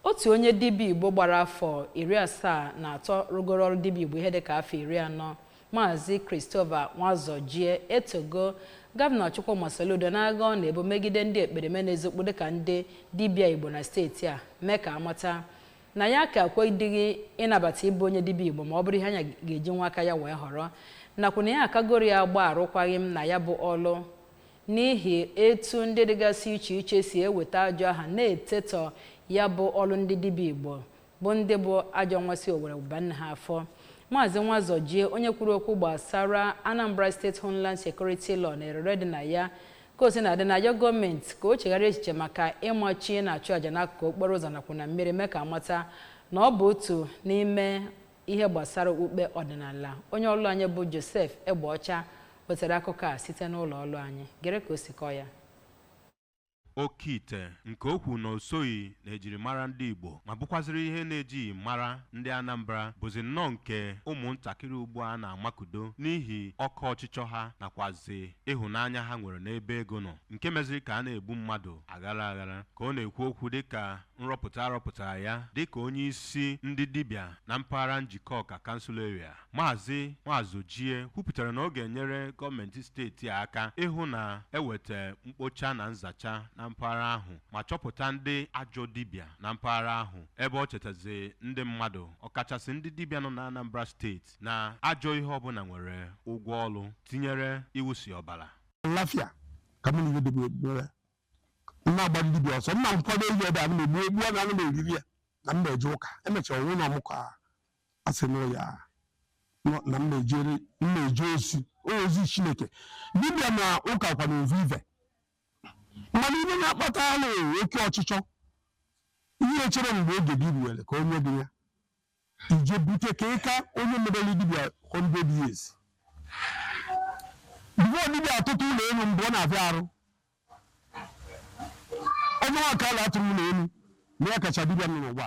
Otu onye dibịa Igbo gbara afọ iri asaa na atọ rụgoro ọrụ dibịa Igbo ihe dịka afọ iri anọ, Maazị Christopher Nwazọjie etogo Gọvanọ Chukwuma Soludo n'agha ọ na-ebu megide ndị ekperima na-ezokpu dịka ndị dibịa Igbo na steeti a mee ka a mata na ya aka ekwedịghị ịnabata ịbụ onye dibịa Igbo ma ọ bụrụ ihe anya ga-eji nwa aka ya wee họrọ nakwa na ya akagoro agba arụkwaghịm na ya bụ ọlụ n'ihi etu ndị dịgasị iche iche si eweta ajọ aha na-etetọ ya bụ ọlụ ndị dibịa Igbo bụ ndị bụ ajọ nwa si owere wụba nne ha afọ. Maazị Nwazọjie, onye kwuru okwu gbasara Anambra State Homeland Security Law na erere dị na ya ka o sina dị na-ayọ gọọmenti ka o chegharịa echiche maka ịmachi ịna-achụ aja n'akụkụ okporo ụzọ nakwa na mmiri mee ka a mata na ọ bụ otu n'ime ihe gbasara okpukpe ọdịnala onye ọlụ anyị bụ Joseph Egbeọcha wetara akụkọ a site n'ụlọ ọlụ anyị gere ka o si kọọ ya oke ite nke o kwuru na o soghị n'ejirimara ndị Igbo ma bụkwaziri ihe na e jighị mara ndị Anambra bụzi nnọọ nke ụmụntakịrị ugbu a na-amakudo n'ihi oke ọchịchọ ha nakwazi ịhụnanya ha nwere n'ebe ego nọ nke meziri ka a na-egbu mmadụ aghara aghara ka ọ na-ekwu okwu dịka nrọpụta a rọpụtara ya dịka onyeisi ndị dibịa na mpaghara Njikọka Council Area, Maazị Nwazọjie kwupụtara na ọ ga-enyere gọọmenti steeti a aka ịhụ na e weta mkpocha na nzacha na mpaghara ahụ ma chọpụta ndị ajọ dibịa na mpaghara ahụ ebe ọ chetaziri ndị mmadụ ọkachasị ndị dibịa nọ n'Anambra steeti na ajọ ihe ọbụla nwere ụgwọ ọlụ tinyere ịwụsị ọbara. Lafia ka mụ na ihe dịbụ ekpere m na-agbara dibịa ọsọ m na nkwado ehi ebe a m na-egbu egbu a na ana m eriri ya na m na-eje ụka e mechaa onwe na ọmụkọ a asị na ya nọ- na m na-ejere m na-eje ozi ozi Chineke dibịa na ụka kwanụ ovu ive mana ihe na-akpata alụ oke ọchịchọ ihe chere mgbe oge gị ruwere ka o nye gị ya i je bute ka ị ka onye mebere dibịa 100 years before dibịa atụtụ ụlọ elu mgbe ọ na-abịa arụ onye nwa ka a na-atụrụ ụlọ elu na ya kacha dibịa nọ n'ụwa